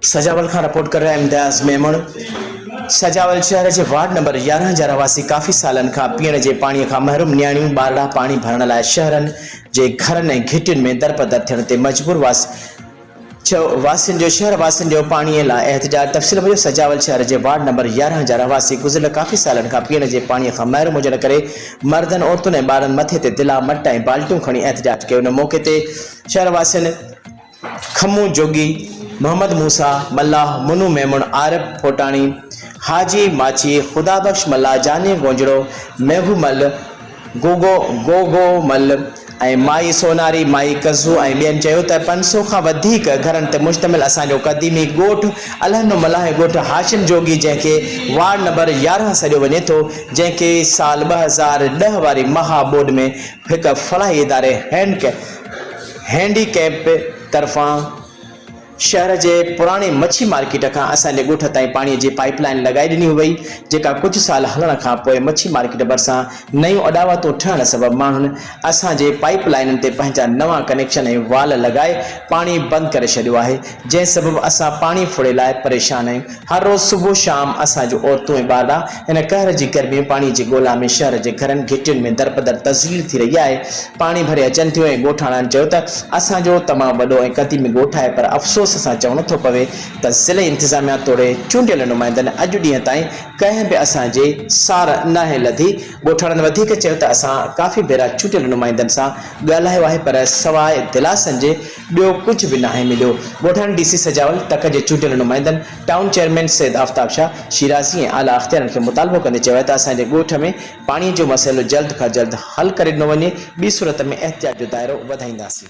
سجاول کان رپورٽ ڪري رهيا آهيون امتياز ميمڻ. سجاول شهر جي وارڊ نمبر يارهن جا رهواسي ڪافي سالن کان پيئڻ جي پاڻي کان محروم نياڻيون ٻارڙا پاڻي ڀرڻ لاء شهرن جي گهرن ۽ گهٽين ۾ درپدر ٿيڻ تي مجبور واسين جو شهر واسين جو پاڻي لاء احتجاج تفصيل موجب سجاول شهر جي وارڊ نمبر يارهن جا رهواسي گذريل ڪافي سالن کان پيئڻ جي پاڻي کان محروم هجڻ ڪري مردن عورتن ۽ ٻارن مٿي تي دلا مٽ ۽ بالٽيون کڻي احتجاج ڪيو ان موقعي تي شهر واسين کمون جوڳي، محمد موسيٰ ملاح، منو ميمڻ، عارف ڦوٽاڻي، حاجي ماڇي، خدا بخش ملاح، جاني گونجڙو، ميگهو مل، گوگو گوگو مل ۽ مائي سوناري، مائي ڪزو ۽ ٻين چيو ته پنج سؤ کان وڌيڪ گهرن تي مشتمل اسان جو قديمي ڳوٺ الهنو ملاح ۽ ڳوٺ هاشم جوڳي جنهن کي وارڊ نمبر يارهن سڏيو وڃي ٿو جنهن کي سال ٻه هزار ڏهه واري مها ٻوڏ ۾ هڪ فلاحي اداري هينڪ هينڊي ڪئمپ طرفان شهر جي پراڻي مڇي مارڪيٽ کان اسان جي ڳوٺ تائين پاڻي جي پائيپ لائين لڳائي ڏني هئي جيڪا ڪجهه سال هلڻ کان پوء مڇي مارڪيٽ ڀرسان نيون اڏاوتون ٺهڻ سبب ماڻهن اسان جي پائيپ لائينن تي پنهنجا نوان ڪنيڪشن ۽ وال لڳائي پاڻي بند ڪري ڇڏيو آهي جنهن سبب اسان پاڻي ڦڙي لاء پريشان آهيون هر روز صبح شام اسان جون عورتون ۽ ٻارڙا هن قهر جي گرمي ۽ پاڻي جي ڳولا ۾ شهر جي گهرن گهٽين ۾ درپدر تذليل ٿي رهي آهي. پاڻي ڀري اچن ٿيون ۽ ڳوٺاڻن چيو ته اسان جو تمام وڏو ۽ قديمي ڳوٺ آهي پر افسوس سان چوڻو ٿو پوي ته ضلعي انتظاميا توڙي چونڊيل نمائندن اڄ ڏينهن تائين ڪنهن به اسان جي سار ناهي لڌي. ڳوٺاڻن وڌيڪ چيو ته اسان ڪافي ڀيرا چونڊيل نمائندن سان ڳالهايو آهي پر سواء دلاسن جي ٻيو ڪجهه به ناهي مليو. ڳوٺاڻي ڊي سي سجاول تڪ جي چونڊيل نمائندن، ٽائون چيئرمين سيد آفتاب شاهه شيرازي ۽ اعليٰ اختيارن کي مطالبو ڪندي چيو آهي ته اسان جي ڳوٺ ۾ پاڻي جو مسئلو جلد کان جلد حل ڪري ڏنو وڃي، ٻي صورت ۾ احتجاج جو دائرو وڌائينداسين.